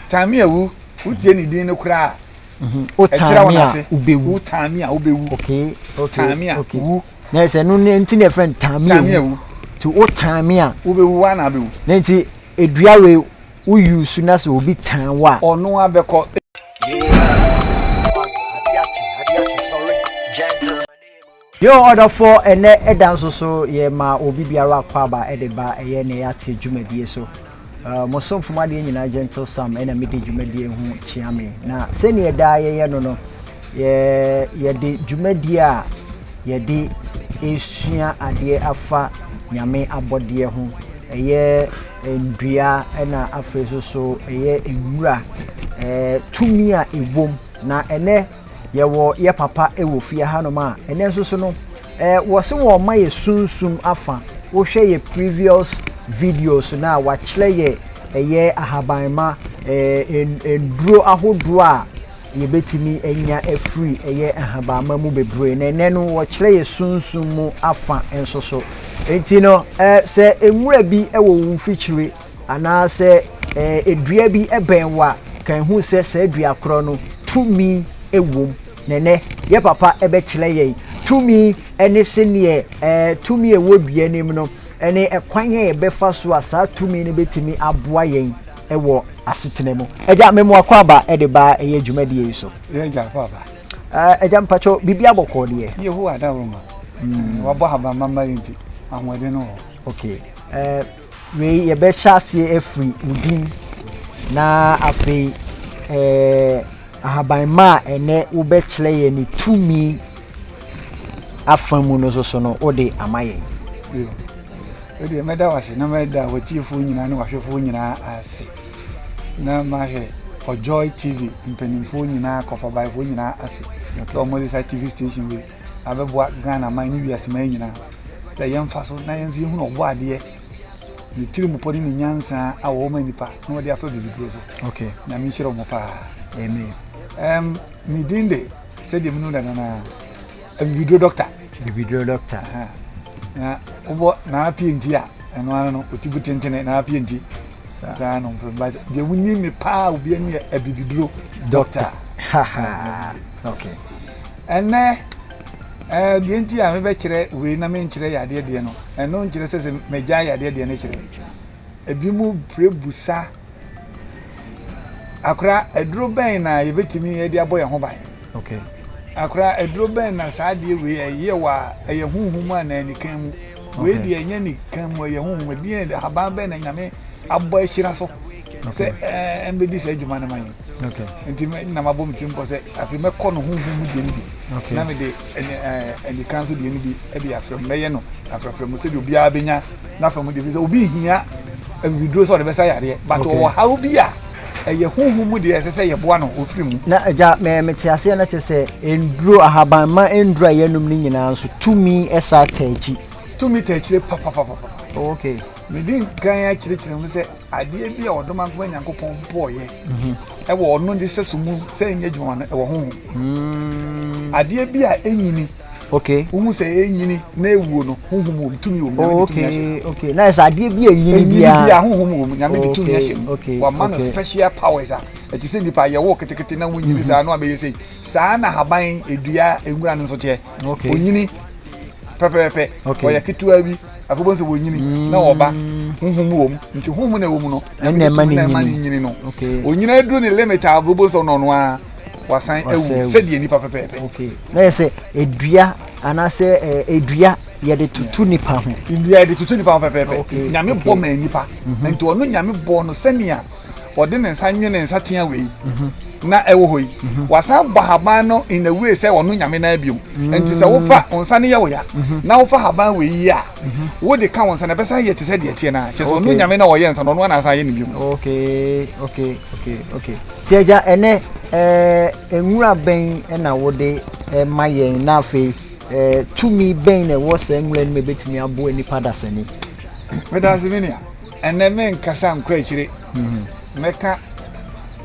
Tami a wu, wotie ne din no koraa a, ɛkyerɛ wɔn ase. Wo tami a wobɛwu. Tami a wu. Na ɛsɛ no ne nti na ɛfrɛ no tami a wu. Ti wo tami a. Wobɛwu wa na abɛwu. Na nti edua wei woyi su na sɛ obi tan wo a. Ɔno abɛkɔ. Yeah. Yo ɔdɔfoɔ ɛnɛ da nso so yɛ ma obi biara akwaaba de ba ɛyɛ nea yɛate dwumadie so mo somfo mo adeɛ nyinaa gentle sam ɛna mede dwumadie ho kyea me na sɛdeɛ daa yɛyɛ no no yɛ yɛde dwumadie a yɛde ɛsua adeɛ afa nyame abɔdeɛ ho ɛyɛ nnua ɛna afei so so ɛyɛ nwura ɛɛ tumi a ɛwom na ɛnɛ Yɛwɔ yɛ papa wɔ fie hanom a ɛnɛ nso so no eh, wɔse wɔn ma yɛ sunsum afa. Wohwɛ yɛ previous videos no a wakyerɛ yɛ ɛyɛ ahabanma eh, nnuro ahodoɔ a yɛbɛtumi anya afiri ɛyɛ ahabanma mu bebree na ɛnɛ no wɔkyerɛ yɛ sunsum mu afa nso so. Nti no eh, sɛ nwura bi wɔ wo mfikyire anaa sɛ ɛɛ dua bi bɛn wo a, kan hu sɛ saa dua korɔ no tumi wom. Na ɛnɛ, yɛ papa bɛkyerɛ yɛn tumi ne sɛdeɛ ɛɛ tumi a ɛwɔ dua no mu no ne ɛkwan a yɛbɛfa so a saa tumi no bɛtumi aboa yɛn wɔ asetena mu. Agya, memoa kɔ aba de ba ɛyɛ dwumadie yi so. Agya kɔ aba. Agya mpakyɛw, biribi abɔkɔɔ deɛ. Yehowa adaworo ma. Hmm. Wabɔ habamama yi nti, ahoɔden no wɔ. Okay. Uh, Wei yɛbɛhyɛ aseɛ afiri wo din na afei eh, ahaban ma a ɛnɛ wobɛkyerɛ yɛn ne tumi afa mu no soso no wode ama yɛn. Ɛdeɛ mɛda wo ase na mɛda watiefoɔ nyinaa ne wahwɛfoɔ nyinaa ase na mahwɛ for joy tv mpanimfoɔ nyinaa kɔfabaefoɔ nyinaa ase sɛ wɔde saa tv station wei abɛboa Ghana man ne wiase man nyinaa sɛ yɛmfa so na yɛnso yɛhunu ɔbɔadeɛ ne tirimupɔ ne ne nyansa a wɔwɔ ma nnipa na wɔde afa bibiduro so okay nyame nhyira ɔmo paa amen um, ne din de sɛdeɛ menu dada no a bibiduro dɔkta bibiduro dɔkta na wobɔ naa pie nti a ɛno ano no ɔtibu tentene naa pie nti saa no mprɛ but deɛ wonim me paa obi ani yɛ abibiduro dɔkta okay Ɛnnɛ, ɛɛ, deɛ nti a mebɛkyerɛ wei na menkyerɛ yadeɛ deɛ no, ɛno nkyerɛ sɛ sɛ magyae yadeɛ deɛ no kyerɛ. Ebi mu pere busa, akora aduro bɛn na yɛbɛtumi de abɔ yɛn ho ban? Okay. Akora aduro bɛn na saa adeɛ wei ɛyɛ wɔ a ɛyɛ honhom a na ɛnikan mu? Wei deɛ ɛnyɛ nikan mu ɛyɛ honhom, ɛdeɛ haban bɛn na nyame abɔ ahyira so? sɛ ɛɛ mbɛdi sɛ adwuma no ma yɛn nti na mabɔ me tirim pɔ sɛ afei mɛkɔ no honhom mu deɛ no bi na mede anika nso deɛ no bi de afrɛ mu mɛyɛ no afrɛfrɛ mu sɛdeɛ obiara bɛnya n'afa mu deɛ fi sɛ obi hia awiduro sɛ ɔde bɛsa yareɛ but ɔwɔ haw bi a ɛyɛ honhom mu deɛ ɛsɛ sɛ yɛboa no ɔfiri mu na agya mete aseɛ no kyɛ sɛ ɛnduro ahaban ma ɛnduro a yɛnom no nyinaa nso tumi ɛsa taakyi tumi taakyire papapapapa okay medi nkan akyerɛkyerɛ mu sɛ Adeɛ bi a Ɔdomankoma Nyankopɔn bɔɔyɛ wɔ Ɔno ne sɛso mu sɛ ɛnyɛ adwuma no ɛwɔ honhom. Mm. Adeɛ bi a ɛnyini. Okay. Wohu sɛ ɛnyini na ɛwuo no honhom wɔ mu tumi wɔ mu nyame de tumi ahyɛ mu. Oh, okay. Na ɛsɛ adeɛ bi a ɛnyini biara. Ɛnyini biara honhom wɔ mu nyame de tumi ahyɛ mu. Wama no special powers a ɛte sɛ nipa yɛwɔ ketekete na wonyini mm-hmm. saa no abɛyɛ sei. Saa na haban edua nwura no nso teɛ. Onyini pɛpɛɛpɛ ɔyɛ ketewa bi. afei bɔn sɛ wɔnyini mm. na wɔba honhom wɔ mu nti honhom na ɛwɔ mu no nyame de tumi na ɛma ne nyini no onyina aduru ne limit a afei bɔn sɛ ɔno ɔno a wasan awu sɛdeɛ nipa pɛpɛɛpɛ na yɛ sɛ edua anaasɛ edua yɛde tutu nipa ho nnua yɛde tutu nipa ho pɛpɛɛpɛ nyame bɔ ma nipa mhm. nti ɔno nyame bɔ no sɛnea ɔde ne nsa nwe ne nsateaa wei na ɛwɔ hɔ yi wasan bɔ haban no in a way sɛ ɔno nyame nan biom nti sɛ wofa wo nsa no yɛ wo ya na wofa haban wei yi a wode ka wo nsa no ɛbɛsan yɛ te sɛ deɛ teɛ no a kyɛ sɛ ɔno nyame na ɔyɛ nsa no ɔno anaasan yɛ no biom nti agya ɛnɛ eh, nwura bɛn na wode eh, ma yɛn na afei eh, tumi bɛn na ɛwɔ saa nwura no mu ɛbɛtumi aboa nnipa dasani medase menea Ɛnnɛ merenkasa nkɔ akyire. Mɛka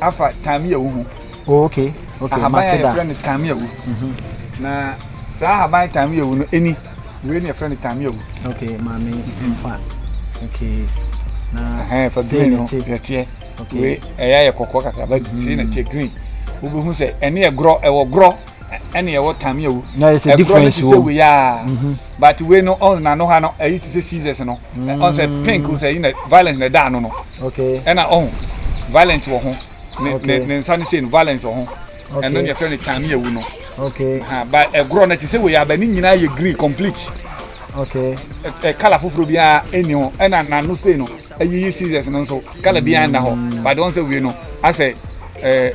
afa tameawu ho. Oh, okay. Okay, ahaban a yɛfrɛ no tameawu. Mhm. Na saa ahaban tameawu no ɛni. Wei na yɛfrɛ no tameawu. Okay, maame mhm. mfa. Okay. Na ɛhɛn fa green no yɛteɛ. Okay. Wei ɛyɛ ayɛ kɔkɔɔ kakra ba sei na teɛ green. Wobɛhu sɛ ɛne yɛ gorɔ ɛwɔ gorɔ. ɛna ɛwɔ tame awu ɛkorɔ no te sɛ wei a mhm. but wei no ɔn na no ha no ɛyi te sɛ seasons no mm. ɔn sɛ pink sɛ ɛyi na violence na ɛda ano no ɛna ɔn violence wɔ ho ne ne nsa no sei no violence wɔ ho ɛno ne yɛfrɛ no tame awu no but ɛkorɔ no te sɛ wei a bɛ ne nyinaa yɛ green complete okay ɛ kala foforɔ biara ɛni ho ɛna n'ano sei no ɛyiyi seasons no nso kala biara nna hɔ mm. but ɔn sɛ wei no asɛ ɛɛ.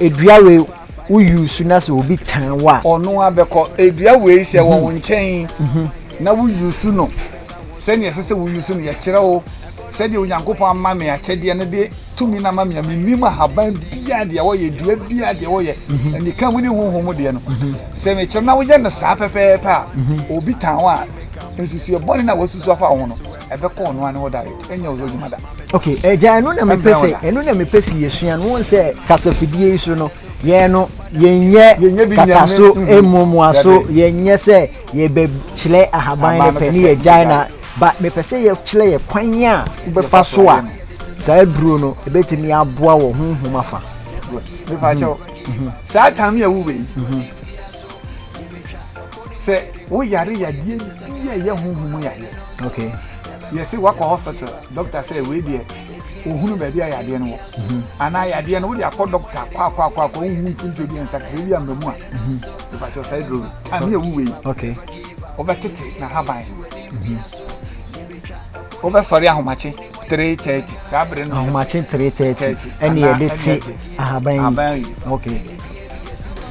Edua wei wo use na sɛ obi tan wo a. Ɔno ara bɛkɔ. Edua wei sɛ ɛwɔ wo nkyɛn na wo use no sɛdeɛ ɛsɛ sɛ wo use no, yɛkyerɛ wo sɛdeɛ Onyankopɔn ama me akyɛdeɛ no de tumi no ama me a, mennim ahaban biara deɛ wɔyɛ, dua biara deɛ wɔyɛ, anika mu ne honhom mu deɛ no. Sɛ mekyerɛ na woyɛ no saa pɛpɛɛpɛ a, obi tan wo a, nsusuiɛ bɔne no a wasusu afa wo ho no, ɛbɛkɔ ɔno ane ɔda yɛ ɛnyɛ ɔzɔ adwuma da. ok ɛgya eh, ɛno na mepɛ sɛ ɛno na mepɛ sɛ yɛsua no wɔn sɛ kasafidie yi so no yɛn no yɛnyɛ kataso mmuamua so yɛnyɛ sɛ yɛbɛkyerɛ ahaban no pɛ ne yɛgyae na ba mepɛ sɛ yɛkyerɛ yɛ kwan a wobɛfa so a saa duro no ɛbɛtumi aboa wɔ honhom afa saa tam yɛ wowei Sɛ wo yare yadeɛ bi a ɛyɛ honhom mu yadeɛ. Okay. Yɛ se wakɔ hospital doctor sɛ wei deɛ ohunu baabi a yadeɛ no wɔ. Mhm. Anaa yadeɛ no wode akɔ doctor kɔ akɔ akɔ akɔ wohu ntonto bi nsa kakra bi a mmamu a. Mhm. Ɛbɛkyɛ ɔsɛe duro bi. A ne yɛ wu wei. Okay. Wobɛtete na haban. Mhm. Wobɛsɔre ahomakye. three thirty saa bere no ahomakye three thirty ɛne yɛde te ahaban yi ahaban yi ok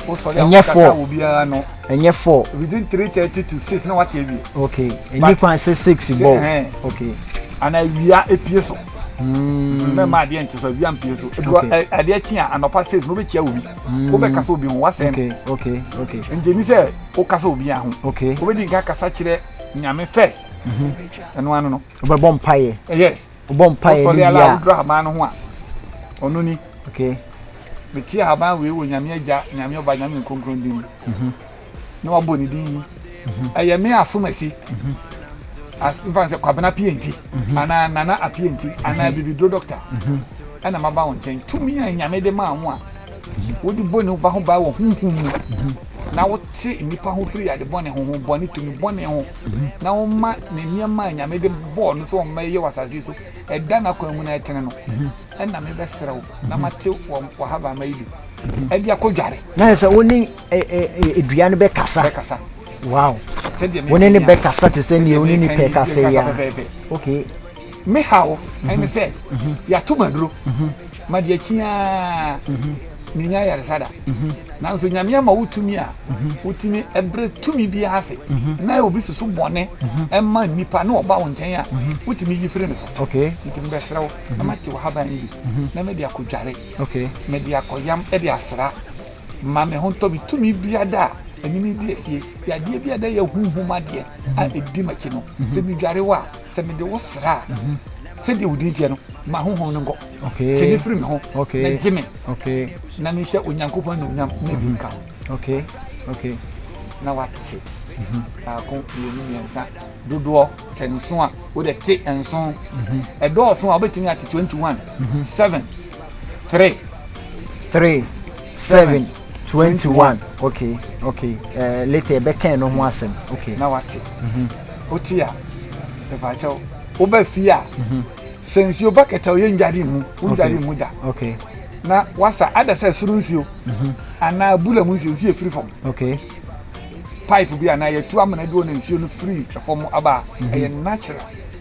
wosɔre a ɛnyɛ four wɔ biara no ɛnyɛ four within three thirty to six na wate awie ok ɛnyɛ kwan sɛ six bɔ ok ana awia epie so mɛma hmm. adeɛ nte so awia mpie so adeɛ kyi a anɔpa six na wobɛkyia obi hmm. wobɛka sɛ obi ho wasɛm nti ni sɛ woka sɛ obi aho wobɛdi nka kasa kyerɛ nyame first mhm. ɛno ano no Wobɛbɔ mpaeɛ. Eh, yes. Wobɔ mpaeɛ ne wie a. Wosɔre ala wodura haban no ho a. Ɔno ni. Okay. Mete haban wei wɔ Nyame Agya, Nyame Ɔba, Nyame Nkonkron din mu. Mhm. Na wabɔ ne din yi. Mhm. Ɛyɛ me asom asi. Mhm. As mfa sɛ kwabena pienti. Anaa nana apienti. Anaa bibiduro dɔkta. Ɛna maba wo nkyɛn. Tumi a Nyame de maa ho a. Wode bɔ nnipa ho ban wɔ honhom mu, na wote nnipa ho firi ade bɔne, honhom bɔne, tumi bɔne ho, na woma ne nneɛma a Nyame de bɔɔ no sɛ ɔmma ɛyɛ wɔ asase so, ɛda n'akwan mu na ɛtene no. Ɛna mebɛsrɛ wo, na mate w'ahabamma yi bi, ɛde akɔdware. Na sɛ wo ne dua no bɛkasa. Bɛkasa. Wow. Wo ne ne bɛkasa te sɛ nea wo ne nipa ɛkasa yi a. Okay. Me haw ɛne sɛ yɛato ma duro ma deɛ kyiaa menya ayaresa da nanso nyame ama wo tumi a wotumi ɛberɛ tumi bi ase na obi susu bɔne ɛma nnipa na ɔba wo nkyɛn a wotumi yi firi ne so nti mebɛserɛ wo na mate wo haban yi bi na mede akɔdware mede akɔyam de asra ma me ho ntɔ me tumi biada a ɛnyini di asie yadeɛ biada yɛ huhum adeɛ a ɛdi makyi no sɛ medware wo a sɛ mede wo sra a sɛdeɛ wodin teɛ no ma honhom no nkɔ tene firi me ho na gye me na mehyɛ onyankopɔn anuonyam na bi nka ho na wate mhm. baako mmienu mmiɛnsa dodoɔ sɛ nso a wode te nso mhm. ɛdɔɔso a wobɛtumi ate 21 7 3 3 7 twenty one. okay okay ɛɛ later ɛbɛ kɛn no ho asɛm. okay na wate. Mhm. o ti a ɛfaakyɛw o bɛ fi a. Mhm. sɛ nsuo ba kɛtɛ o yɛ ndwari mu o ndwari mu da. okay na wasa ada sɛ soro nsuo. Mhm. anaa bula mu nsuo nsuo efiri fam. okay pipe bi anaa yɛtu amena bi wɔ na nsuo no firi fam aba ɛyɛ natural.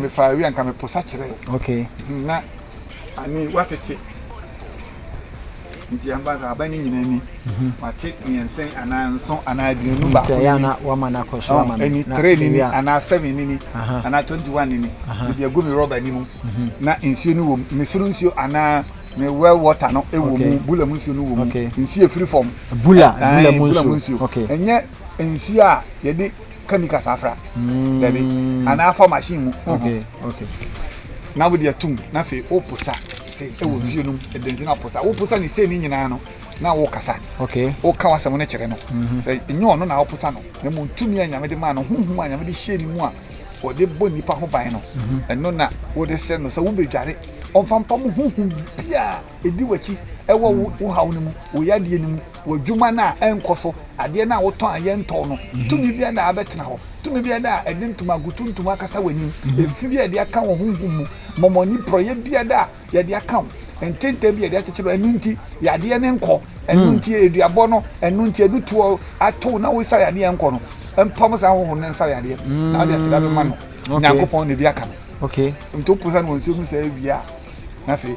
mefaa awie a nka meposa kyerɛ okay hmm, na ani watete nti amba sɛ aba ne nyina ni mhm. wate mmiɛnsɛn anaa nso anaa aduonu baako ɛni oh, tere nini anaa seven nini anaa twenty one nini mede agu me rɔba ni mu mhm. na nsuo no wɔ mu mesoro nsuo anaa ne well water no ɛwɔ mu bula mu nsuo no wɔ mu nsuo efiri fam bula bula mu nsuo ɛnyɛ nsuo a yɛde chemicals afra mm. dabi anaa afa machine mu na wode atum na afei woposa sei ɛwɔ mm-hmm. nsuo nom ɛde nsuo no aposa woposa ne sei ne nyinaa no na wokasa woka wasɛm no kyerɛ no mm-hmm. sɛ ɛnyɛ ɔno na woposa no na mmom tumi a nyame de maa no honhom a nyame de hyɛɛ ne mu a wɔde bɔ nnipa ho ban no mm-hmm. ɛno na wode sɛ no sɛ wobɛdware ɔmfampa mu honhom biaa ɛdi w'akyi ɛwɔ wo haw no mu wo yadeɛ no mu w'adwuma no a ɛnkɔ so, adeɛ no a wotɔn a yɛntɔn no, mhm. tumi bi da a abɛtena hɔ, tumi bi da a ɛde ntoma gutuntum akata w'anim, mhm. efi bi a yɛde aka wɔ honhom mu, mɔmɔni porɔyɛ bi da a yɛde aka wo, ntenten bi yɛde akyekyere ɛno nti yadeɛ no nkɔ, ɛno hmm. nti eduabɔ no, ɛno nti adutoɔ ato na wosa yadeɛ nkɔ no, mpam saa ahohoro no nsa yadeɛ, hmm. na wode aseda bɛma no, nyankopɔn na ebi aka no. Okay. Nti wopo sa no wɔ nsuo mu sɛ awia, na afei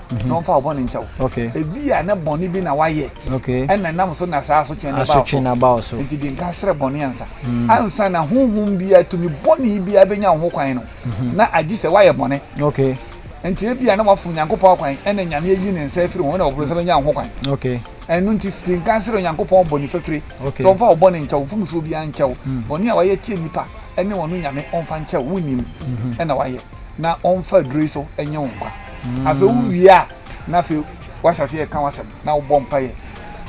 mhm. na ɔmfa ɔbɔne nkyɛ wo ebi a ne bɔne bi na wayɛ ɛna nam so na saa asotwe no ba wo so nti de nka serɛ bɔne ansa mm. ansa na honhom biara tumi bɔne biara bɛnya wo ho kwan no mhm. na agye sɛ woayɛ bɔne nti ebi a na wafom nyankopɔn kwan ɛna nyame ayi ne nsa afiri ho na ɔboro sɛ bɛnya wo ho kwan ɛno nti de nka serɛ onyankopɔn bɔne fafire sɛ ɔmfa wo bɔne nkyɛw mfomsoɔ biara nkyɛw mm. bɔne a wayɛ tie nnipa ɛne ɔno nyame ɔmfa nkyɛw wonim mhm. ɛna wayɛ na ɔmfa aduro yi so nye wo nkwa mm. afei wowie a na afei wahyɛ ase yɛka wasɛm na wobɔ mpaeɛ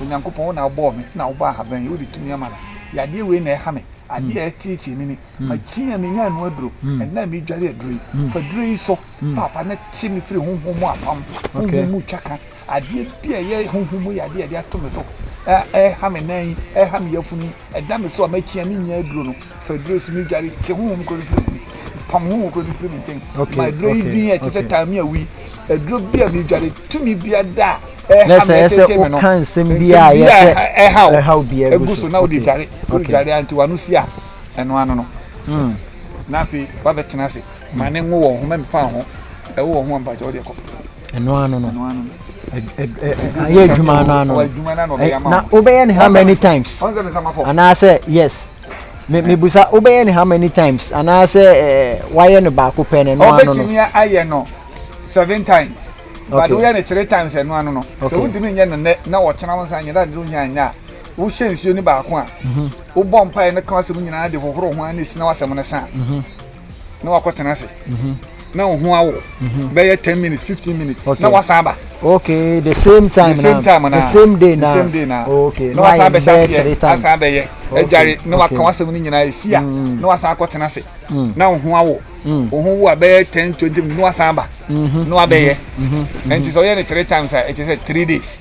onyankopɔn wo na wobɔɔ me na wobɔ ahaban yi wode tumi ama no yadeɛ wei na ɛha me adeɛ a ɛteetee me ni mm. makyi a menya ano aduro mm. ɛna a medware aduro yi mm. fa duro yi so papa na te me firi honhom mu apam honhom mu twa ka Adeɛ bi a ɛyɛ honhom mu yadeɛ a ɛde ato me so a ɛreha me nan yi, ɛreha me yafunu yi, ɛda me so a makyia me nnya aduro no, fa aduro yi so me dware, te honhom koro no firi me ho, pam honhom koro no firi me nkyɛn. Okay, Ma aduro yi okay, din a ɛte sɛ okay. taame awi, aduro bi a medware, tumi bi ada a ɛreha me, Nurse, ɛyɛ sɛ ɛtete me no, woka nsɛm bi a nsɛm bi ɛyɛ a sɛ ɛha- ɛha wo, ɛhaw bi agu egu so. so na wode Okay, dware, sɛ okay. wodware a nti w'ano si a, ɛno ano no. Mm. Na afei wabɛtena ase, ma ne ngo wɔ wo ho, ma mfa wo ho, ɛwɔ wo ho a mpakyɛ wode kɔ. ɛno ano no ayɛ adwuma ano ano na wobɛyɛ ne how many times anaasɛ yes mebusa wobɛyɛ ne how many times anaasɛ wayɛ no baako pɛ no ɛno ano no ɔbɛtumi ayɛ no seven times but woyɛ no three times ɛno ano no sɛ wontumi nyɛ no nnɛ na wɔkyena wo nsa nyɛ dade no hia nyɛ a wohyɛ nsuo no baako a wobɔ mpaeɛ no ka wasɛm nyinaa de hohoro ho a na ɛsina wasɛm no sa a na wakɔ tena ase mhm. na ohun awo mhm. bɛyɛ ten minutes fifteen minutes na wasan ba. okay the same time the same time na the same day na the same day na okay na wasan bɛ hyɛ aseɛ asan bɛ yɛ ɛdware na waka wasɛm ne nyinaa esi a mm. na wasan akɔ tena ase mm. na ohun awo mm. ohun wo a bɛyɛ ten twenty minutes na wasan ba na wabɛyɛ ɛnti sɛ ɔyɛ ne three times a ɛkyɛ sɛ three days.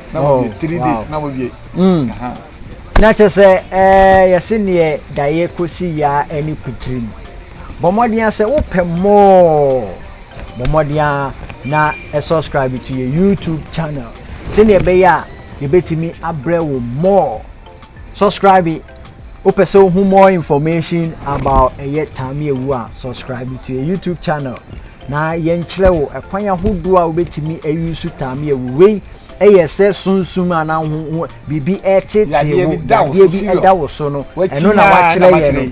na wɔwie oh, three days na wɔwie hmm. na kyɛ sɛ eh, yɛse neɛ daeɛ kɔsi yaa ne kutirim bɔ mmɔden sɛ wopɛ mɔɔ bɔ mmɔden a na subscribe to yɛ youtube channel sɛdeɛ ɛbɛyɛ a yɛbɛtumi abrɛ wo mɔɔ Subscribe Wopɛ sɛ wohu more information about ɛyɛ Tami Awu a, subscribe to yɛ YouTube channel na yɛnkyerɛ wo ɛkwan ahodoɔ a wobɛtumi ayi so Tami Awu. Wei ɛyɛ sɛ sunsum anaa ho ho biribi ɛtete wo, yadeɛ bi ɛda wo so no, ɛno na wakyerɛ yɛ no.